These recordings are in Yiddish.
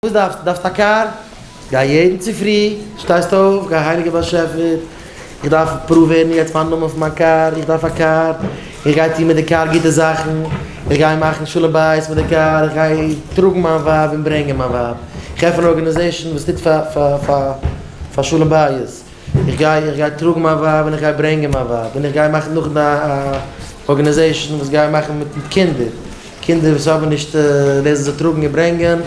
וואס דארפסטו? דארפסט א קאר? גיי יעדן צופרי, שטייסט אויף, גיי הייליגער באשעפער, איך דארף פראווערן יעצט מיין נאמען פון מיין קאר, איך דארף א קאר, איך גיי טון מיט די קאר גוטע זאכן, איך גיי מאכן שלום בית מיט די קאר, איך גיי טראגן מיין ווייב און ברענגען מיין ווייב, איך עפן אן ארגענעזעישן וואס טוט פאר שלום בית, איך גיי איך גיי טראגן מיין ווייב און איך גיי ברענגען מיין ווייב, און איך גיי מאכן נאך א ארגענעזעישן וואס גיי מאכן מיט קינדער. קינדער וואס האבן נישט ווער זיי טראגן און ברענגען,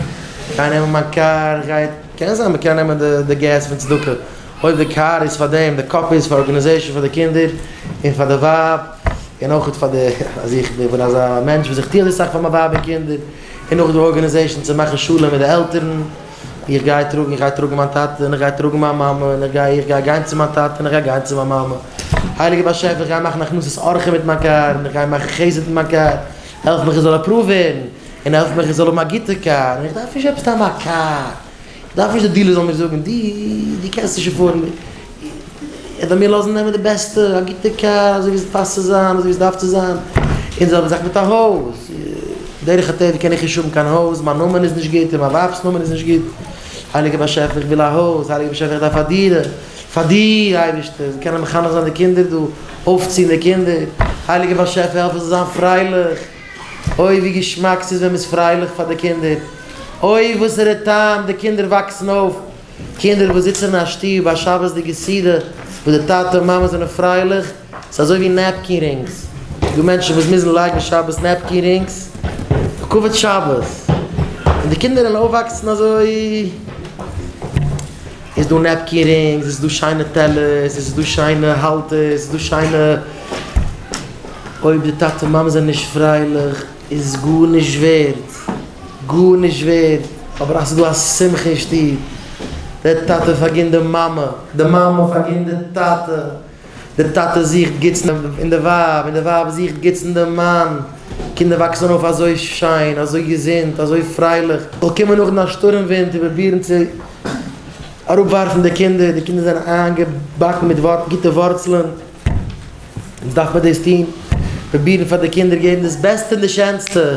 גיי נעמען מיין קאר, גיי, קען זיין מ'קען נעמען די די געז פון צדקה, אויב די קאר איז פאר דעם, די קאפ איז פאר ארגענעזעישן פאר די קינדער, און פאר די ווייב, און אויך פאר די, אז איך בין אזא מענטש וואס איך טו אזוי סאך פאר מיין ווייב און קינדער, און נאך די ארגענעזעישן צו מאכן שלום מיט די עלטערן. איך גיי טראגן, איך גיי טראגן מיין טאטע, און איך גיי טראגן מיין מאמע, און איך גיי, איך גיי גיין צו מיין טאטע, און איך גיי גיין צו מיין מאמע. הייליגער באשעפער, איך גיי מאכן הכנסת אורחים מיט מיין קאר, און איך גיי מאכן חסד מיט מיין קאר, העלף מיך איך זאל עפראווד ווערן, און העלף מיך איך זאל האבן א גוטע קאר, און איך דארף נישט עפעס סתם א קאר, איך דארף נישט די דילער זאל מיר זאגן, דו, דו קענסט נישט עפארדן, ער וועט מיר לאזן נעמען די בעסטע, א גוטע קאר, אזוי ווי עס פאסט צו זיין, אזוי ווי עס דארף צו זיין, און די זעלבע זאך מיט א הויז, דרך הטבע קען איך נישט האבן קיין הויז, מיין נאמען איז נישט גוט, און מיין ווייב'ס נאמען איז נישט גוט, הייליגער באשעפער איך וויל א הויז, הייליגער באשעפער איך דארף א דירה, פאר דיר אייבערשטער, זיי קענען מחנך זיין די קינדער דא, אויפציען די קינדער, הייליגער באשעפער העלף איך זאל זיין פרייליך, אוי ווי געשמאק ס'איז ווען מ'איז פרייליך פאר די קינדער, אוי וואסערע טעם, די קינדער וואקסן אויף. קינדער וואס זיצן אין א שטוב א שבת'דיגע סעודה וואס די טאטע און מאמע זענען פרייליך איז אזוי ווי נעפקין רינגס, ס'איז דא מענטשן וואס מוזן לייגן שבת נעפקין רינגס לכבוד שבת, און די קינדער וועלן אויפוואקסן אזוי, איז דא נעפקין רינגס, עס איז דא שיינע טעלערס, עס איז דא שיינע האלטערס, עס איז דא שיינע, אויב די טאטע און מאמע זענען נישט פרייליך. איז גארנישט ווערד, גארנישט ווערד, אבער אז ס'איז דא א שמחה אין שטוב, דער טאטע פארגינט די מאמע, די מאמע פארגינט די טאטע, די טאטע זוכט גוטס אין די ווייב, און די ווייב זוכט גוטס אין די מאן, קינדער וואקסן אויף אזוי שיין, אזוי געזונט, אזוי פרייליך, זאל קומען נאכדעם א שטורעם ווינט און פרובירן צו אראפווארפן די קינדער, די קינדער זענען איינגעבאקן מיט גוטע ווארצלען. וואס דארף מען דאס טון? פרובירן פאר די קינדער געבן דאס בעסטע און די שענסטע